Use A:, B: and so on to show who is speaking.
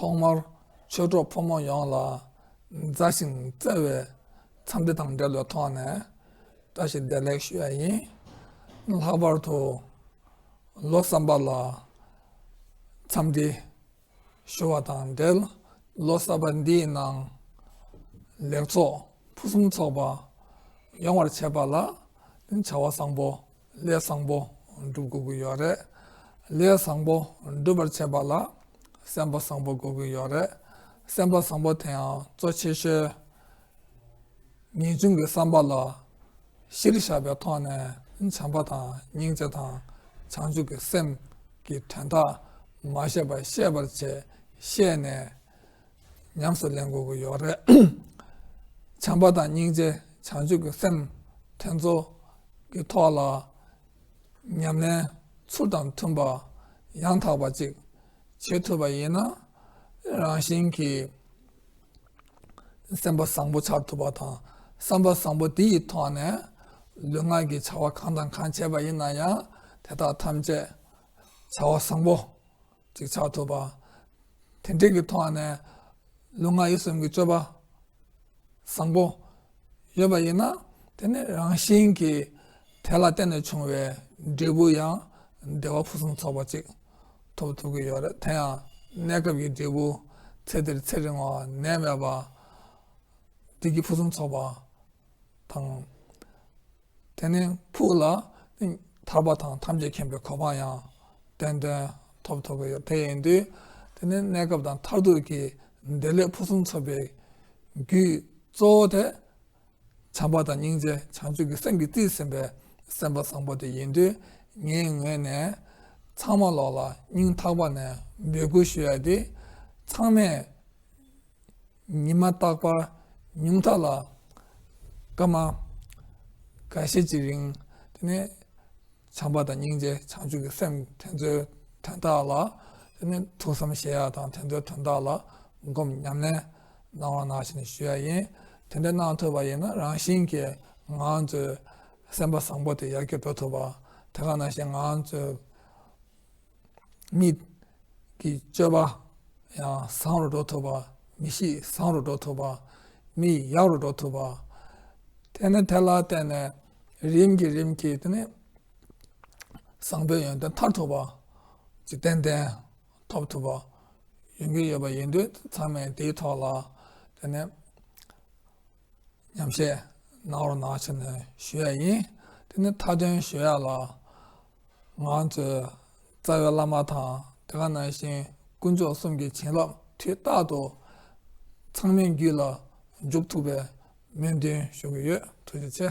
A: ཐོག་མར་ཆོས་གྲོགས་ཕོ་མོ་ཡོངས་ལ་མཛའ་ཞིང་བརྩེ་བའི་འཚམས་འདྲི་དང་འབྲེལ་བའི་ཐོག་ནས་བཀྲ་ཤིས་བདེ་ལེགས་ཞུ་བ་ཡིན། ལྷག་པར་དུ་ལོ་བསམ་པ་ལ་འཚམས་འདྲི། ཞུ་བ་དང་འབྲེལ་ལོ་གསར་པ་འདིའི་ནང་ལེགས་ཚོགས་ཕུན་སུམ་ཚོགས་པ་ཡོང་བར་བྱེད་པ་ལ་བྱ་བ་བཟང་པོ་ལས་བཟང་པོ་བསྒྲུབ་དགོས་ཀྱི་ཡོད་རེད། ལས་བཟང་པོ་སྒྲུབ་པར་བྱེད་པ་ལ་སེམས་པ་བཟང་པོ་དགོས་ཀྱི་ཡོད་རེད། སེམས་པ་བཟང་པོ་དེའང་གཙོ་ཆེ་ཤོས་ངེས་འབྱུང་གི་བསམ་པ་ལ་གཞིར་བཞག་པའི་ཐོག་ནས་བྱམས་པ་དང་སྙིང་རྗེ་དང་བྱང་ཆུབ་ཀྱི་སེམས་ཀྱི་དོན་དག་མ་བཤད་པར་ཤེས་པར་བྱས་ཤེས་ནས་ཉམས་སུ་ལེན་དགོས་ཀྱི་ཡོད་རེད། བྱམས་པ་དང་སྙིང་རྗེ་བྱང་ཆུབ་ཀྱི་སེམས་དེ་ཚོ་གི་ཐོག་ལ་ཉམས་ལེན་ཚུལ་དང་མཐུན་པ་ཡང་དག་པ་ཅིག་བྱེད་ཐུབ་པ་ཡིན་ན་རང་བཞིན་གྱིས། སེམས་པ་བཟང་པོ་འཆར་ཐུབ་པ་དང་བསམ་པ་བཟང་པོ་དེ་ཡི་ཐོག་ནས་ལུས་ངག་གི་བྱ་བ་གང་དང་གང་བྱས་པ་ཡིན་ན་ཡང་དེ་དག་ཐམས་ཅད་བྱ་བ་བཟང་པོ་གཅིག་འཆར་ཐུབ་པ། དེ་འབྲེལ་གྱི་ཐོག་ནས་ལུས་ངག་ཡིད་གསུམ་གྱི་སྤྱོད་པ་བཟང་པོ་ཡོད་པ་ཡིན་ན་དེ་ནི་རང་བཞིན་གྱིས་དེ་ལ་བརྟེན་ནས་བྱུང་བའི་འབྲས་བུ་ཡང་བདེ་བ་ཕུན་སུམ་ཚོགས་པ་ཅིག་ཐོབ་ཐུབ་ཀྱི་ཡོད་རེད་དེ་ཡང་གནས་སྐབས་ཀྱི་འབྲས་བུ་ཚེ་འདིར་ཚེ་རིང་བ་ནད་མེད་པ། བདེ་སྐྱིད་ཕུན་སུམ་ཚོགས་པ་དང། དེ་ནས་ཕུགས་ལ་ཐར་པ་དང་ཐམས་ཅད་མཁྱེན་པའི་གོ་འཕང་ཡང་ཏན་ཏན་ཐོབ་ཐུབ་ཀྱི་ཡོད་དེ་ཡིན་དུས་དེ་ནི་གནས་སྐབས་དང་མཐར་ཐུག་གི་བདེ་ལེགས་ཕུན་སུམ་ཚོགས་པའི་རྒྱུའི་གཙོ་བོ་དེ་བྱམས་པ་དང་སྙིང་རྗེ་བྱང་ཆུབ་ཀྱི་སེམས་ཀྱིས་བརྩིས་ཟིན་པའི་སེམས་པ་བཟང་པོ་དེ་ཡིན་དུས་ངའི་ངོས་ནས་ཚང་མ་ལོག་ལ་སྙིང་ཐག་པ་ནས་འབོད་སྐུལ་ཞུ་ཡ་དེ། ཚང་མས་ཉི་མ་རྟག་པར་ཉུང་མཐའ་ལ་སྐར་མ་ག་ཤེད་ཅིག་རིང་དེ་ནི་བྱམས་པ་དང་སྙིང་རྗེ་བྱང་ཆུབ་ཀྱི་སེམས་དེ་ཚོའི་དོན་དག་ལ་དེ་ནི་ཐུགས་བསམ་བཞེས་ཡ་དང་དེ་ཚོའི་དོན་དག་ལ་སྒོམ་ཉམས་ལེན་སྣང་བ་སྣང་བཞིན་ཞུ་ཡ་ཡིན། དེ་འདྲ་གནང་ཐུབ་པ་ཡིན་ན་རང་བཞིན་གྱིས་ང་ཚོའི་སེམས་པ་བཟང་པོ་དེ་ཡར་རྒྱས་འགྲོ་ཐུབ་པ། དེ་ག་ནང་བཞིན་ང་ཚོའི་མིག་གི་སྤྱོད་པ་ཡང་བཟང་རུ་འགྲོ་ཐུབ་པ། མི་གཤིས་བཟང་རུ་འགྲོ་ཐུབ་པ། མིག་ཡག་རུ་འགྲོ་ཐུབ་པ། དེ་ནི་དེ་ལ་བརྟེན་ནས་རིམ་གྱིས་རིམ་གྱིས་དེ་ནི་བཟང་པོའི་ཡོན་ཏན་མཐར་ཐུག་པ། འཇིག་རྟེན་ལྡན། ཐོབ་ཐུབ་པ་ཡོང་གི་ཡོད་པ་ཡིན་དུས་ཚང་མས་དེའི་ཐོག་ལ་དེ་ནས་ཉམས་བཞེས་གནང་རོགས་གནང་ཞེས་ནས་ཞུ་ཡས་ཡིན། དེ་ནས་མཐའ་དོན་ཞུ་ཡས་ལ་ང་ཚོའི་རྩ་བའི་བླ་མ་དང་དེ་ག་ནང་བཞིན་དཀོན་མཆོག་གསུམ་གྱི་བྱིན་རླབས་དུས་རྟག་ཏུ་ཚང་མའི་རྒྱུད་ལ་འཇུག་ཐུབ་པའི་སྨོན་འདུན་ཞུ་གི་ཡོད་ཐུགས་རྗེ་ཆེ།